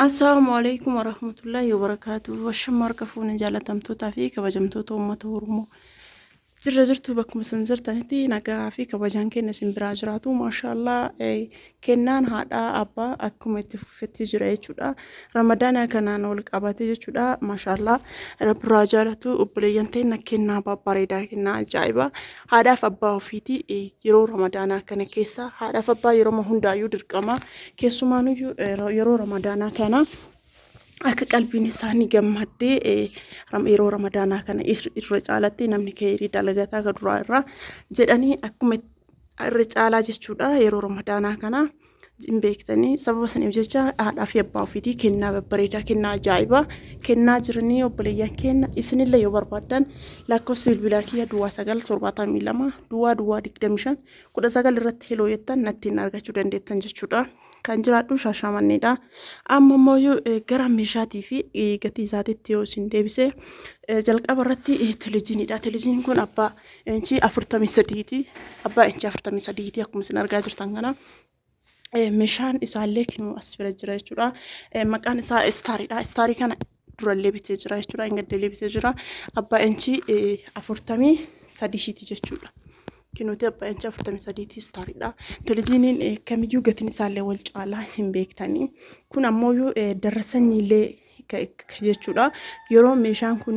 Assalaamu alaikum warahmatullahi wabarakaatuh. Washama harka fuune jaalatamtootaa fi kabajamtoota uummata Oromoo. Jirra jirtu bakkuma isin jirtanitti nagaa fi kabajaan keenya isin biraa jiraatu. Maashaallah eh, kennaan haadhaa abbaa akkuma itti fufetti jira jechuudha. Ramadaana kanaan wal qabate jechuudha. Maashaallah rabbiraa jaalatu obboleeyyan teenya kennaa babbareedaa kennaa ajaa'ibaa. haadhaaf abbaa ofiitii eh, yeroo ramadaanaa kana keessa haadhaaf abbaa yeroo hundaayyuu dirqama keessumaanuyyuu eh, ra- yeroo ramadaanaa kana akka qalbiin isaanii gammaddee eh, ram- yeroo ramadaanaa kana is- irra caalatti namni keerii dalagataa ka duraa irraa jedhanii akkuma irra caalaa jechuudha yeroo ramadaanaa kana hin beektanii sababa saniif jecha haadhaa fi abbaa ofiitii kennaa babbareedaa kennaa ajaa'ibaa kennaa jiranii obboleeyyan kenna isinillee yoo barbaaddan lakkoofsi bilbilaa kiyya duwwaa sagal torbaatamii lama duwwaa duwwaa digdami shan kudha sagal irratti heloo jettan nattiin argachuu dandeettan jechuudha. Kan jiraadhu shaashamanneedha. Amma immoo yoo eh, gara meeshaatii fi eh, gatii isaatiitti yoo isin deebise eh, jalqaba irratti eh, televiziiniidha. Televiziiniin kun abbaa Inchii afurtamii sadiiti. Abbaa inchii afurtamii sadiiti akkuma isin argaa jirtan kana. Eh, Meeshaan isaallee kinuu as bira jira jechuudha. Eh, Maqaan isaa istaariidha. Istaarii kana durallee bitee jira jechuudha. Hin gaddeellee bitee jira. Abbaa inchii eh, afurtamii sadiiti jechuudha. Kinuuti abbaa inchii afurtamii sadiiti istaariidha. Televiziiniin eh, kamiyyuu gatiin isaallee wal caalaa hin beektanii. Kun ammoo eh, darra sanyiillee jechuudha. Yeroo meeshaan kun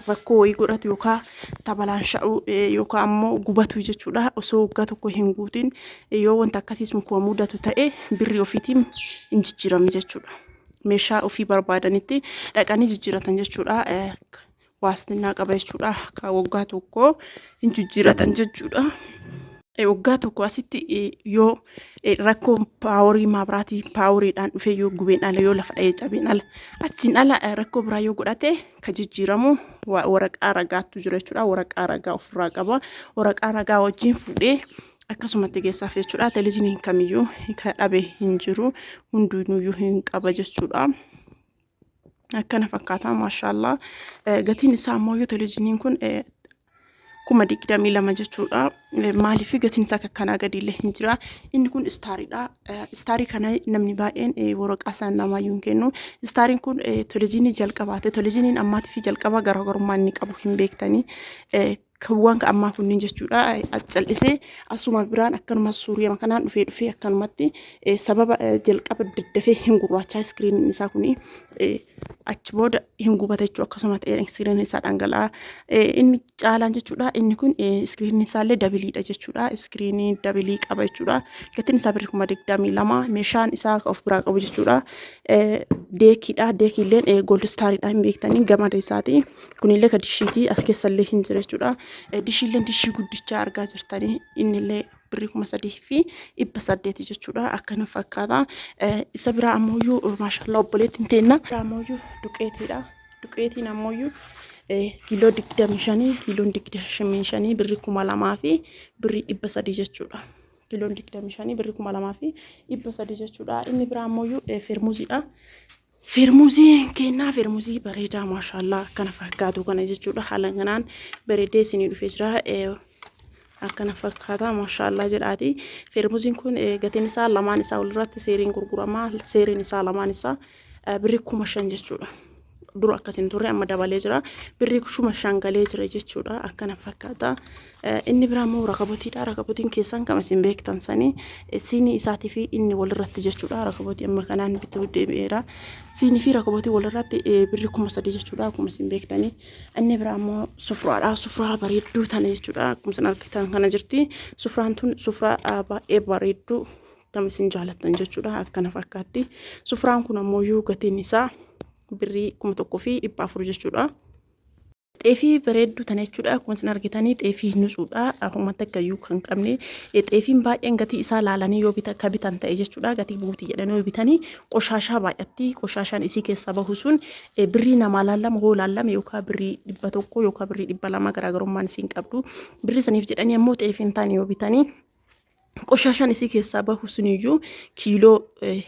rakkoo wayii godhatu yookaan tabalaasha'u yookaan ammoo gubatu jechuudha. Osoo waggaa tokko hin guutin yoo wanta akkasiis muka mudatu ta'e birrii ofiitiin hin jijjiirame jechuudha. Meeshaa ofii barbaadanitti dhaqanii jijjiiratan jechuudha. waastinnaa qaba jechuudha. Akka waggaa tokko hin jijjiiratan jechuudha. Waggaa tokko asitti yoo rakkoo paaworii maabiraatii paaworiidhaan dhufee yoo gubeen ala yoo lafa dha'ee cabeen ala achiin ala rakkoo biraa yoo godhate ka jijjiiramu waraqaa ragaattu jira jechuudha. Waraqaa ragaa ofirraa qaba. Waraqaa ragaa wajjin fuudhee akkasumatti geessaaf jechuudha. Televizyiiniin kamiyyuu ka dhabe hin jiru hunduunuyyuu hin qaba jechuudha. akkana fakkaata maashaallaa gatiin isaa ammoo yoo televizyiiniin kun kuma digdamii lama jechuudha. Maaliif gatiin isaa akkanaa gadi illee hin jira. Inni kun istaariidha. Istaarii kana namni baay'een waraqaa isaan namaa hin kennu. Istaariin kun televizyiinii jalqabaate. Televizyiiniin ammaatii fi jalqabaa garaagarummaa inni qabu hin beektanii. Kawwaan ka ammaa kunniin jechuudha callisee asuma biraan akkanuma suuriyama kanaan dhufee dhufee akkanumatti sababa jalqaba daddafee hin gurraachaa iskiriiniin isaa kun achi booda hin gubata jechuudha akkasuma ta'ee iskiriiniin isaa dhangala'aa inni caalaan jechuudha inni kun iskiriiniin isaa illee dabiliidha jechuudha iskiriinii dabilii qaba jechuudha gatiin isaa birri kuma digdamii lama meeshaan isaa ka of biraa qabu jechuudha deekiidha deekiilleen gooldistaariidha hin beektanii gamada isaati kunillee ka dishiiti as keessallee hin jira jechuudha dishiilleen dishii guddichaa argaa jirtanii innillee birrii kuma sadii fi dhibba saddeeti jechuudha akkana fakkaata isa biraa ammoo maashaallah obboleettiin teenna biraa ammoo duqeetiidha duqeetiin ammoo kiiloo digdamii shanii kiiloon digdamii shanii birrii kuma lamaa fi birrii dhibba sadii jechuudha kiiloon digdamii shanii birrii kuma lamaa fi dhibba sadii jechuudha inni biraa ammoo fermuuziidha Firmuzii kennaa firmuzii bareedaa maashaallaa akkana fakkaatu kana jechuudha haala kanaan bareedee isinii dhufee jira akkana fakkaata maashaallaa jedhaati firmuziin kun gatiin isaa lamaan isaa walirratti seeriin gurguramaa seeriin isaa lamaan isaa birri kuma shan jechuudha. Dura akkas hin turre amma dabalee jira birri kuma shan galee jira jechuudha akkana fakkaata. Inni biraa immoo rakabotiidha. Rakabotiin keessan kan isin beektan sanii siinii isaatii fi inni walirratti jechuudha. Rakabotii amma kanaan bituu deebi'eera. Siinii fi rakabotii walirratti birri kuma sadii jechuudha. Akkuma isin beektanii. Inni biraa immoo sufraadha. Sufraa bareedduu tana jechuudha. Akkuma isin argitan kana jirti. Sufraan tun sufraa baay'ee bareedduu kan isin jaalattan jechuudha. Akkana fakkaatti. Sufraan kun ammoo gatiin isaa birrii kuma tokkoo fi dhibba afur jechuudha. Xeefii bareedduu tana jechuudha. Akkuma isin argitanii xeefii nutsuudha. Homa takka iyyuu kan qabne. Xeefiin baay'een gatii isaa laalanii yoo bita ka bitan ta'e jechuudha. Gatii buuti jedhanii yoo bitanii qoshaashaa baay'atti. Qoshaashaan isii keessaa bahu sun birrii namaa laallama hoo laallame yookaan birrii dhibba tokko yookaan birrii dhibba lama garaagarummaan isiin qabdu. Birrii saniif jedhanii ammoo xeefiin taane yoo bitanii Qoshashaan isii keessaa bahu suniyyuu kiiloo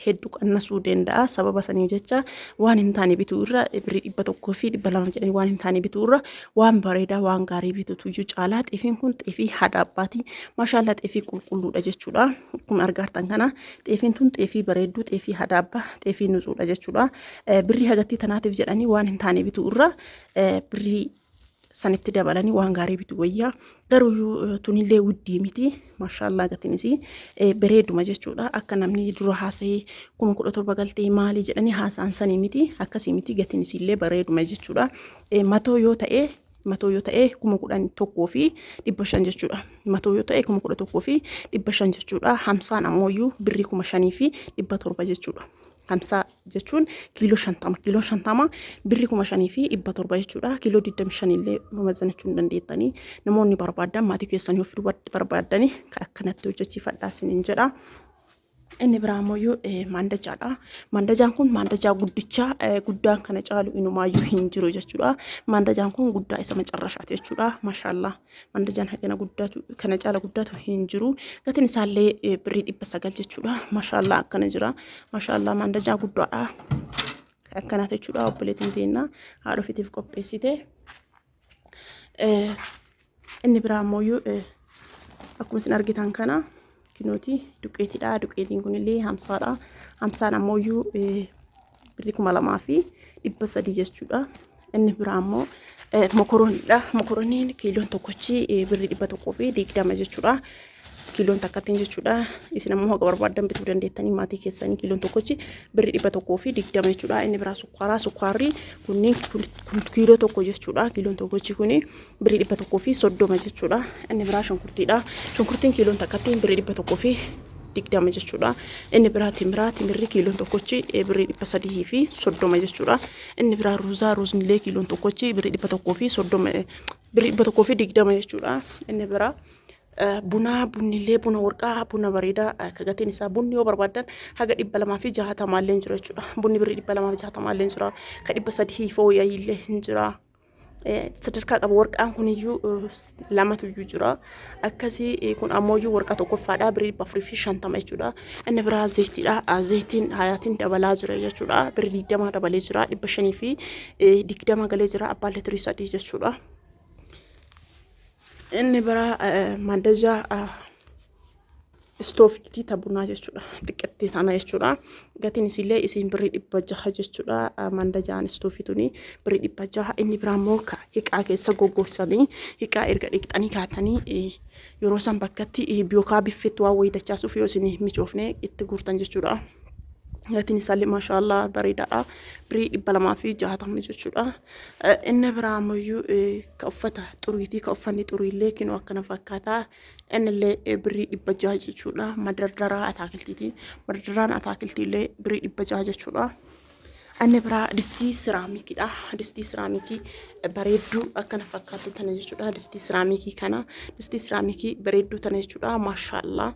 heddu qannasuu danda'a. Sababa sanii jecha waan hin taane bituu irra birrii dhibba tokkoo fi dhibba lama jedhanii waan hin taane bituu irra waan bareedaa waan gaarii bitutu iyyuu caalaa xeefiin kun xeefii haadha abbaati. Maashaallaa xeefii qulqulluudha jechuudha. Akkuma argaartan kana xeefiin tun xeefii bareedduu xeefii haadha abbaa xeefii nuzuudha jechuudha. Birrii hagattii tanaatiif jedhanii waan hin taane bituu irra birrii sanitti dabalanii waan gaarii bitu wayyaa garuu tunillee wuddii miti maashaallaa gatiinis bareeduma jechuudha akka namni dura haasa'ee kuma kudha torba galtee maalii jedhanii haasa'an sanii miti akkasii miti gatiinis illee bareeduma jechuudha matoo yoo ta'e matoo yoo ta'e kuma kudhan tokkoo fi dhibba shan jechuudha matoo yoo ta'e kuma kudha tokkoo fi dhibba shan jechuudha hamsaan ammoo birrii kuma shanii fi dhibba torba jechuudha hamsaa jechuun kiiloo shantama kiiloo shantama birri kuma shanii fi dhibba torba jechuudha kiiloo digdami shan illee mamazzanachuu hin dandeettanii namoonni barbaadan maatii keessanii of dubarti barbaadanii akkanatti hojjechiifadhaa isiniin jedha. Inni biraa ammoo maandajaadha. Maandajaan kun maandajaa guddichaa guddaan kana caalu inumaayyuu hin jiru jechuudha. Maandajaan kun guddaa isa macarrashaati jechuudha. Mashallah. mandajaan hagana guddatu kana caala guddatu hin jiru gatiin isaallee eh, birrii dhibba sagal jechuudha mashaallaa akkana jira mashaallaa mandajaa guddaadha akkanaaf jechuudha obboleetiin teenna haadha ofiitiif qopheessite Eh, inni biraa ammoo eh, akkuma isin argitan kana kinooti duqeetiidha. Duqeetiin kunillee hamsaadha. Hamsaan ammoo iyyuu birrii kuma lamaa fi dhibba sadii jechuudha. Inni biraa ammoo mokorooniidha. Mokorooniin kiiloon tokkochi birrii dhibba tokkoo fi digdama jechuudha. Kiiloon takkattiin jechuudha. Isin ammoo haga barbaaddan bituu dandeettanii maatii keessanii kiiloon tokkochi birrii dhibba tokkoo fi digdama jechuudha. Inni biraa sukkaaraa. Sukkaarri kunniin kiiloo tokko jechuudha. Kiiloon tokkochi kuni birrii dhibba tokkoo fi soddoma jechuudha. Inni biraa shunkurtiidha. Shunkurtiin kiiloon takkatti birrii dhibba tokkoo fi digdama jechuudha. Inni biraa timiraa timirri kiiloon tokkochi birrii dhibba sadii fi soddoma jechuudha. Inni biraa ruuzaa ruuznillee kiiloon tokkochi birrii dhibba tokkoo fi soddoma birrii dhibba tokkoo fi digdama jechuudha. Inni biraa bunaa bunnillee buna warqaa buna bareedaa akka gatiin isaa bunni yoo barbaadan haga dhibba lamaa fi jahatamaallee hin jira jechuudha. Bunni birrii dhibba lamaa fi jahatamaallee hin jira. Ka dhibba sadii fooyya'illee hin jira. sadarkaa qaba warqaan kuniyyuu lamatu iyyuu jira akkasii kun ammoo iyyuu warqaa tokkoffaadha birrii dhibba afurii fi shantama jechuudha inni biraa zayitiidha zayitiin hayaatiin dabalaa jira jechuudha birrii digdama dabalee jira dhibba shanii fi digdama galee jira abbaan litirii sadii jechuudha inni biraa mandajaa Istoofiitii ta bunaa jechuudha. Xiqqettee tana jechuudha. Gatiin isiillee isiin birrii dhibba jaha jechuudha. Manda ja'an istoofii tuni birrii dhibba jaha. Inni biraa immoo ka hiqaa keessa goggogsanii hiqaa erga dhiqxanii kaatanii eh, yeroo san bakkatti eh, yookaa biffetti waan wayii dachaasuuf yoo isin micoofne itti guurtan jechuudha. Gatiin isaallee maashaallah bareedaadha. Birrii dhibba lamaa fi jaatamni jechuudha. Eh, Inni biraa ammayyuu eh, ka uffata xuriitii ka uffanni xuriillee kinoo akkana fakkaata. Innillee birrii dhibba jaha jechuudha. Madardaraa ataakiltiiti. Madardaraan ataakiltiillee birrii dhibba jaha jechuudha. Inni biraa distii siraamikiidha. Distii siraamikii bareedduu akkana fakkaatu tana jechuudha. Distii siraamikii kana distii siraamikii bareedduu tana jechuudha. Maashaallah.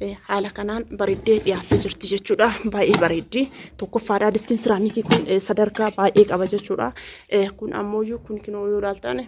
Eh, haala kanaan bareeddee dhiyaattee jirti jechuudha. Baay'ee bareeddi. Tokkoffaadha distiin siraamikii kun eh, sadarkaa baay'ee qaba jechuudha. Eh, kun ammoo kun kinoo yoo ilaaltan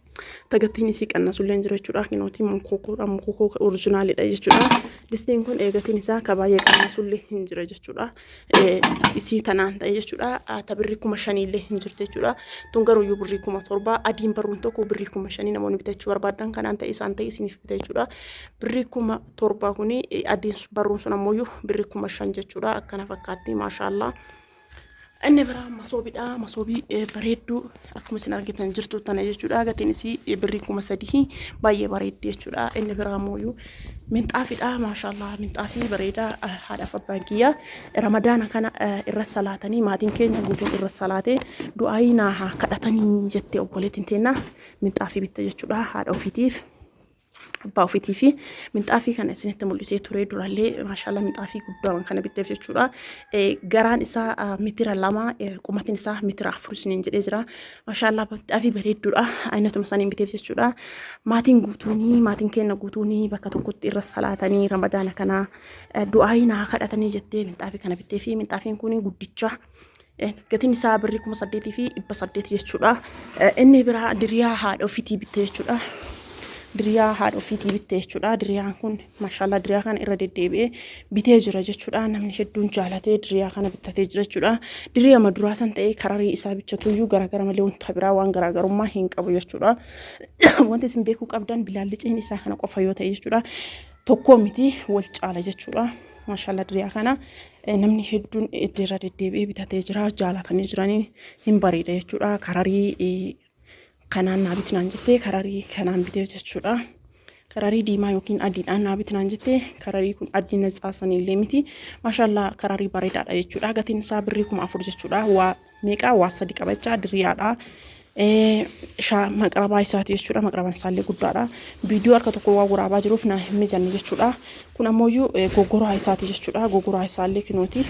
Tagattiin isii qannasulleen jira jechuudha. Kinootii mukokoodha. Mukokoo orijinaalidha jechuudha. Distiin kun eegatiin isaa ka baay'ee qannasullee hin jira jechuudha. Isii tanaan ta'e jechuudha. Ta birrii kuma shaniillee hin jirti jechuudha. Tun garuu iyyuu birrii kuma torbaa adiin barruun tokko birrii kuma shanii namoonni bitachuu barbaadan kanaan ta'e isaan ta'e isiniif bita jechuudha. Birrii kuma torbaa kuni adiin barruun sun ammoo iyyuu birrii kuma shan jechuudha. Akkana fakkaatti maashaallah. Inni biraa masoobiidha. Masoobii eh, bareedduu akkuma isin argitan jirtu tana jechuudha. Gatiin isii eh, birrii kuma sadii baay'ee bareeddi jechuudha. Inni biraa mooyyuu minxaafiidha. Maashaallah minxaafii bareedaa eh, haadhaaf abbaan kiyya ramadaana kana eh, irra salaatanii maatiin keenya guutuun irra salaatee du'aayii naa haa kadhatanii jettee obboleettiin teenna minxaafii bitte jechuudha haadha ofiitiif. abbaa ofiitii fi minxaafii kana isinitti mul'isee turee durallee maashaalla minxaafii guddaa kana bitteef jechuudha. Garaan isaa mitira lama qumatiin isaa mitira afur isiniin jedhee jira. Maashaalla minxaafii bareedduudha. Aynatuma saniin bitteef jechuudha. Maatiin guutuunii maatiin keenya guutuunii bakka tokkotti irra salaatanii ramadaana kana du'aayii naa kadhatanii jettee minxaafii kana bitteefi minxaafiin kun guddicha. gatiin isaa birrii kuma saddeetii fi dhibba saddeet jechuudha. Inni biraa diriyaa haadha ofiitii bitte jechuudha. Diriyaa haadha ofiitii bitte jechuudha. Diriyaan kun maashaallah diriyaa kana irra deddeebi'ee bitee jira jechuudha. Namni hedduun jaalatee diriyaa kana bittatee jira jechuudha. Diriyaa maduraa san ta'ee kararii isaa bichatuyyuu garaagara malee wanta biraa waan garaagarummaa hin qabu jechuudha. Wanti isin beekuu qabdan bilaalliceen isaa kana qofa yoo ta'e jechuudha. Tokkoo miti wal caala jechuudha. Maashaallah diriyaa kana namni hedduun irra deddeebi'ee bitatee jira jaalatanii jiranii hin bareeda jechuudha kararii kanaan naa bitinaan jettee kararii kanaan bitee jechuudha kararii diimaa yookiin adiidhaan naa bitinaan jettee kararii kun adii natsaasanii illee miti maashaallaa kararii bareedaadha jechuudha gatiin isaa birrii kuma afur jechuudha waa meeqaa waa sadi qaba jechaa diriyaadha. Shaa maqrabaa isaati jechuudha. Maqrabaan isaallee guddaadha. Viidiyoo harka tokko waa waraabaa jiruuf naa hin mijanne jechuudha. Kun ammoo gogoraa isaati jechuudha. Gogoraa isaallee kinooti.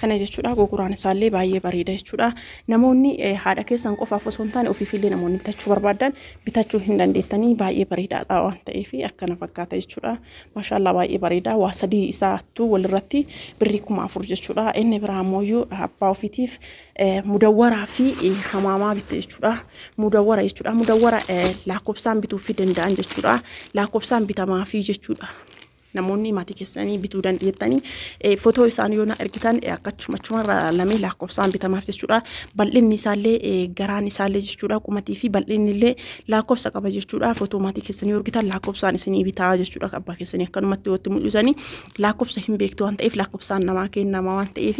Kana jechuudha gogoraan isaallee baay'ee bareeda jechuudha. Namoonni haadha keessan qofaaf osoo hin taane ofiifillee namoonni bitachuu barbaadan bitachuu hin dandeettanii baay'ee bareedaadha waan ta'eef akkana fakkaata jechuudha. Mashallah baay'ee bareeda waa sadii isaattuu walirratti birrii kuma afur jechuudha inni biraa ammoo abbaa ofiitiif mudawwaraa fi hamaamaa bitte jechuudha mudawwara jechuudha mudawwara lakkoofsaan bituu fi danda'an jechuudha lakkoofsaan bitamaa fi jechuudha namoonni maatii keessanii bituu dandeettanii footoo isaanii yoo na ergitan akkachumachuma irraa lamee lakkoofsaan bitamaaf jechuudha bal'inni isaallee garaan isaallee jechuudha qumatii fi bal'inni illee laakkofsa qaba jechuudha. Footoo maatii keessanii horgitan laakkofsaan isinii bitaa jechuudha. Abbaa keessanii akkanumatti watti mul'isanii laakkofsa hin beektu waan ta'eef laakkofsaan namaa kennama waan ta'eef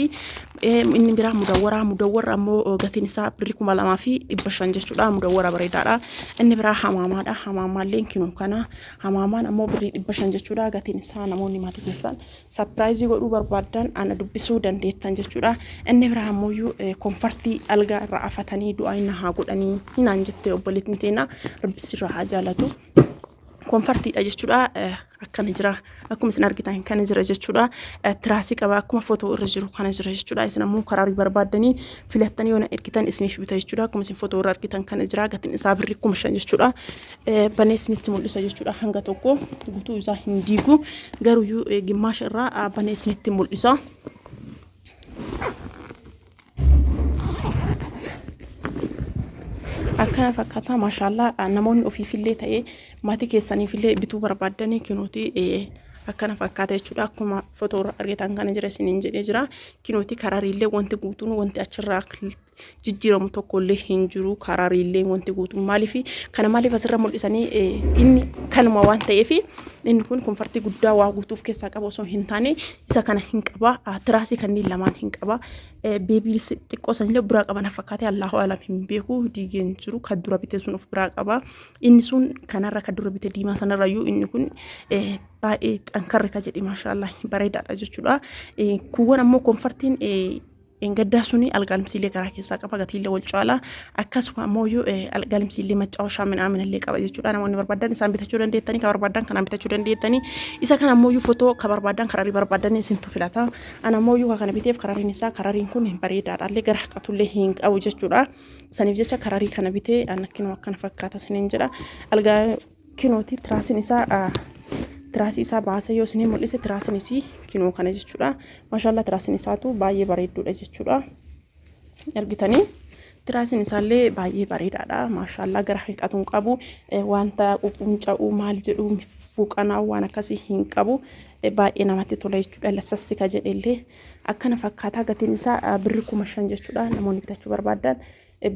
inni biraa mudawwaraa mudawwarra ammoo gatiin isaa birri kuma lamaa fi dhibba shan jechuudha. Mudawwara bareedaadha. Inni biraa hamaamaadha. Hamaamaalleen kinuu kana hamaamaan ammoo birrii dhibba shan jechuudha. Gatiin isaa namoonni maatii keessan Sapiraayizii godhuu barbaaddan ana dubbisuu dandeettan jechuudha. Inni biraa ammoo konfartii algaa irra afatanii du'aa na haa godhanii hinaan jettee obboleettiin teena rabbi sirraa haa jaalatu. Konfartiidha jechuudha. Akkana jira. Akkuma isin argitan kana jira jechuudha. Tiraasii qaba. Akkuma footoo irra jiru kana jira jechuudha. Isin ammoo karaa barbaaddanii filattanii yoo na ergitan isiniif bita jechuudha. Akkuma isin footoo irra argitan kana jira. Gatiin isaa birri kuma shan jechuudha. banees nitti mul'isa jechuudha hanga tokko gutuu isaa hin diigu garuyyuu gimmaasha irraa banees nitti mul'isa. akkana fakkaata maashaallaa namoonni ofiifillee ta'ee maatii keessaniifillee bituu barbaaddanii kinuuti akkana fakkaata jechuudha akkuma fotoorra argitan kana jira isiniin jedhee jira kinuuti karariillee wanti guutuun wanti achirraa jijjiiramu tokkollee hin jiru karaariillee wanti guutuun maaliif kana maaliif asirra mul'isanii inni kanuma waan ta'eef inni kun konfartii guddaa waa guutuuf keessaa qaba osoo hin taane isa kana hin qaba tiraasii kanneen lamaan hin qaba beebii xiqqoo sanillee biraa qaba na fakkaate allahu alam hin beeku diigeen jiru kan dura bite sun of biraa qaba inni sun kanarra kan dura bite diimaa sanarra iyyuu inni kun baay'ee xankarri ka jedhe maashaallah bareedaadha jechuudha kuuwwan ammoo konfartiin Dheengaddaa suni algaalimsiillee garaa keessaa qaba gatiillee wal caala akkasuma ammoo algaalimsiillee macaawashaa minaaminallee qaba jechuudha namoonni barbaadan isaan bitachuu dandeettanii ka barbaadan kanaan bitachuu dandeettanii isa kana ammoo fotoo ka barbaadan kararii barbaadan isintu filata ana ammoo ka kana biteef karariin isaa karariin kun bareedaadhaallee gara haqatullee hin qabu jechuudha saniif jecha kararii kana bitee anakkinoo akkana fakkaata sinin jedha algaa kinooti tiraasiin isaa tiraasii isaa baasee yoo isinii mul'ise tiraasiin isii kinoo kana jechuudha maashaallaa tiraasiin isaatu baay'ee bareedduudha jechuudha argitanii tiraasiin isaallee baay'ee bareedaadha maashaallaa gara hanqatuun qabu wanta quqqunca'uu maal jedhu fuuqanaa waan akkasii hin qabu baay'ee namatti tola jechuudha lasassika jedhellee akkana fakkaataa gatiin isaa birri kuma shan jechuudha namoonni bitachuu barbaadan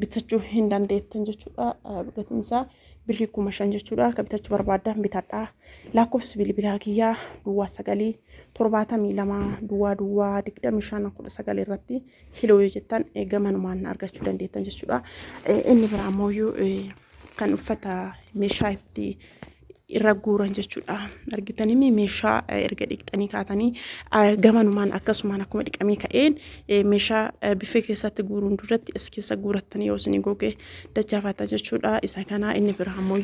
bitachuu hin dandeettan jechuudha. Gatiin isaa birrii kuma shan jechuudha. Akka bitachuu barbaaddan bitadha. Lakkoofsi bilbilaa kiyyaa duwwaa sagalii torbaatamii lama duwwaa duwwaa digdami shan kudha sagal irratti hiloo yoo jettan gamanumaan argachuu dandeettan jechuudha. Inni biraa ammoo kan uffata meeshaa itti irra guuran jechuudha. Argitanii meeshaa erga dhiqxanii kaatanii gamanumaan akkasumaan akkuma dhiqamee ka'een meeshaa biffee keessatti guuruun duratti as keessa guurattanii yoo isin goge dachaafata jechuudha. Isa kanaa inni biraa ammoo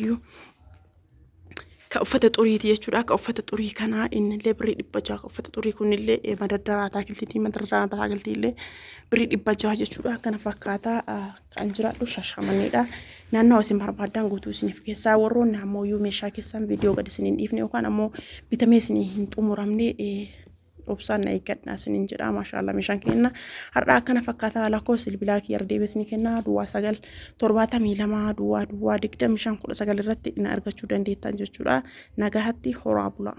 ka uffata xuriiti jechuudha. Ka uffata xurii kanaa innillee birrii dhibba jaha. Ka uffata xurii kunillee madardaraa ataakiltiitii madardaraa ataakiltiillee birrii dhibba jaha jechuudha. Kana fakkaataa. kan jiraadhu shashamanneedha. Naannoo isin barbaadan guutuu isiniif keessaa warroonni ammoo iyyuu meeshaa keessan viidiyoo gad isin hin dhiifne yookaan ammoo bitamee isin hin xumuramne obsaan na eeggadha isiniin jedha maashaallah meeshaan kenna har'a akkana fakkaataa lakkoo silbilaa kiyya ardeebee isin kenna duwwaa sagal torbaatamii lama duwwaa duwwaa digdami shan kudha sagal irratti na argachuu dandeettan jechuudha nagahatti horaa bulaa.